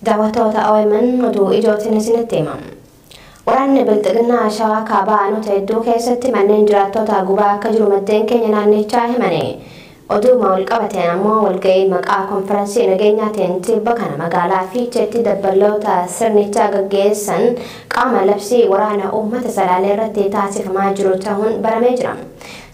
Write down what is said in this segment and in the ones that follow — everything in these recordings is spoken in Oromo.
Daawwattoota OMN oduu ijootiin isinitti hima. Waraanni Bilxiginnaa Shawaa Kaabaa aanota hedduu keessatti manneen jiraattootaa gubaa akka jiru maddeen keenya naannichaa himani. Oduuma walqabateen ammoo walga'ii maqaa konfiransii nageenyaatiin tibba kana magaalaa Fiicheetti dabballoota sirnichaa gaggeessan qaama labsii waraana uummata Salaalee irratti taasifamaa jiru tahuun baramee jira.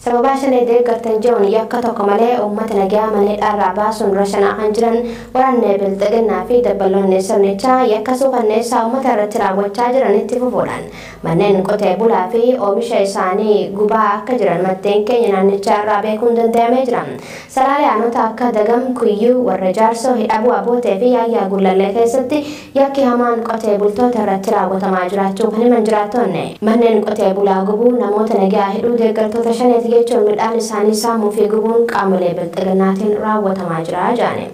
Sababaa Shanee deeggartan je'uun yakka tokko malee ummata nagayaa mana hidhaarraa baasuun rashanaa kan jiran waraanni Bilxiginnaa fi dabballoonni sirnichaa yakka suukanneessaa ummata irratti raawwachaa jiran itti fufuudhaan manneen qotee bulaa fi oomisha isaanii gubaa akka jiran maddeen keenya naannichaa irraa beekuun dandayamee jira. Salaalee aanota akka Dagam, Kuyyuu, Warra Jaarsoo, Hidhabuu Abootee fi Yaayyaa Gullallee keessatti Yakki hamaan qotee bultoota irratti raawwatamaa jiraachuu kan himan jiraattoonni, manneen qotee bulaa gubuu, namoota nagaa hidhuu, deeggartoota Shaneeti jechuun midhaan isaanii saamuu fi gubuun qaamolee Bilxiginnaatiin raawwatamaa jira jedhani.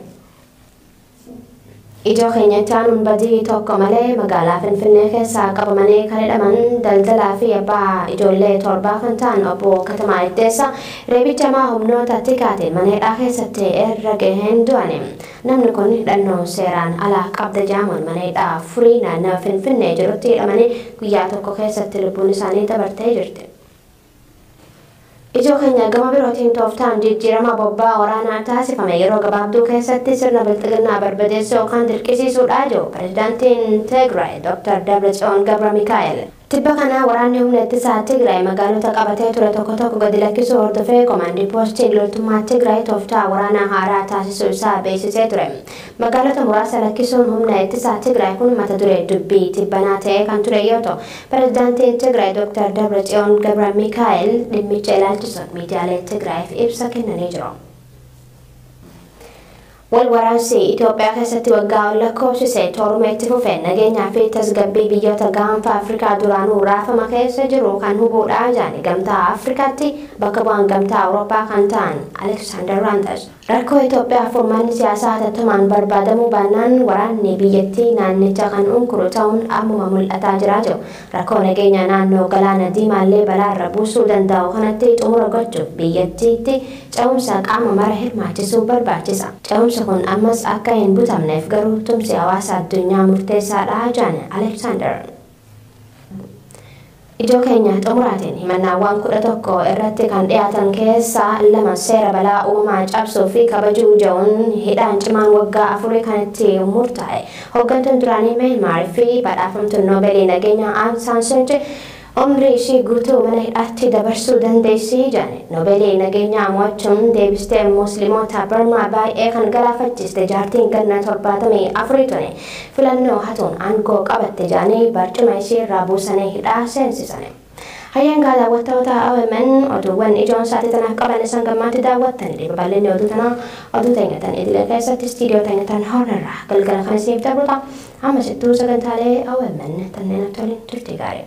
Ijoo keenya itti aanuun badii tokko malee magaalaa Finfinnee keessaa qabamanii kan hidhaman daldalaa fi abbaa ijoollee torbaa kan ta'an Obbo Katamaa Iddeessaa reebicha hamaa humnoota tikaatiin mana hidhaa keessatti irra gaheen du'ani. Namni kun hidhannoo seeraan alaa qabda jedhamuun mana hidhaa Furii naannawa Finfinnee jirutti hidhamanii guyyaa tokko keessatti lubbuun isaanii dabartee jirti. Ijoo keenya gama birootiin tooftaan jijjiirama bobbaa waraanaa taasifame yeroo gabaabduu keessatti sirna bilxiginnaa barbadeessuu yookaan dirqisiisuudha jedhu Pirezidaantiin Tigraay Dr. Dabratsiyoon Gabramikaa'el. Tibba kana waraanni humna ittisaa Tigraay magaalota qabatee ture tokko tokko gadi lakkisuu hordofee Komaandi Poostiin loltummaa Tigraay tooftaa waraanaa haaraa taasisuu isaa beeksisee ture. Magaalota muraasa lakkisuun humna ittisaa Tigraay kun mata duree dubbii tibbanaa ta'ee kan ture yoo ta'u, Pirezidaantiin Tigraay Doktar Dabratsiyoon Gabramikaa'el dhimmicha ilaalchisuun miidiyaalee Tigraayiif ibsa kennanii jiru. Wal waraansi Itoophiyaa keessatti waggaa ol lakkoofsise tooruma itti fufeen nageenyaa fi tasgabbii biyyoota gaanfa Afrikaa duraanuu raafama keessa jiru kan hubuudha jedhan Gamtaa Afrikaatti bakka bu'aan Gamtaa Awurooppaa kan ta'an Aleksaandar Raantas. Rakkoo Itoophiyaaf furmaanni siyaasaa hatattamaan barbaadamuu baannaan waraanni biyyattii naannicha kan unkuru ta'uun ammuma mul'ataa jira jedhu. Rakkoo nageenya naannoo Galaana Diimaallee balaarra buusuu dandaa'u kanatti xumura gochuuf biyyattiitti ce'umsa qaama mara hirmaachisuu barbaachisa. Ce'umsi kun ammas akka hin butamneef garuu tumsi hawaasa addunyaa murteessaadha jedhan Aleeksaandar. Ijoo keenya xumuraatiin himannaawwan 11 irratti kan dhiyaatan keessaa lama seera balaa uumamaa cabsuu fi kabajuu jedhuun hidhaan cimaan waggaa afurii kan itti murtaa'e Hoggantuun duraanii Myanmar fi badhaafamtuun Noobeelii Nageenyaa Aung San Suu Kyi umrii ishii guutuu mana hidhaatti dabarsuu dandeessi jedhan. Noobeelii Nageenyaa mo'achuun deebistee Muslimoota Barmaa baay'ee kan galaafachiiste jaartiin ganna 74 tuni filannoo hatuun aangoo qabatte jedhanii barcuma ishii irraa buusanii hidhaa seensisani. Hayyeen gaadaawwattoota omn oduuwwan ijoon sa'atii tanaaf qaban isan gammaatti daawwattanidhe babal'inni oduu tanaa oduu teenya tan idilee keessatti istiidiyoo teenya tan horn irraa galgala kan isiniif dabru ta'a ammasittuu sagantaalee omn tanneen attoliin turtii gaarii.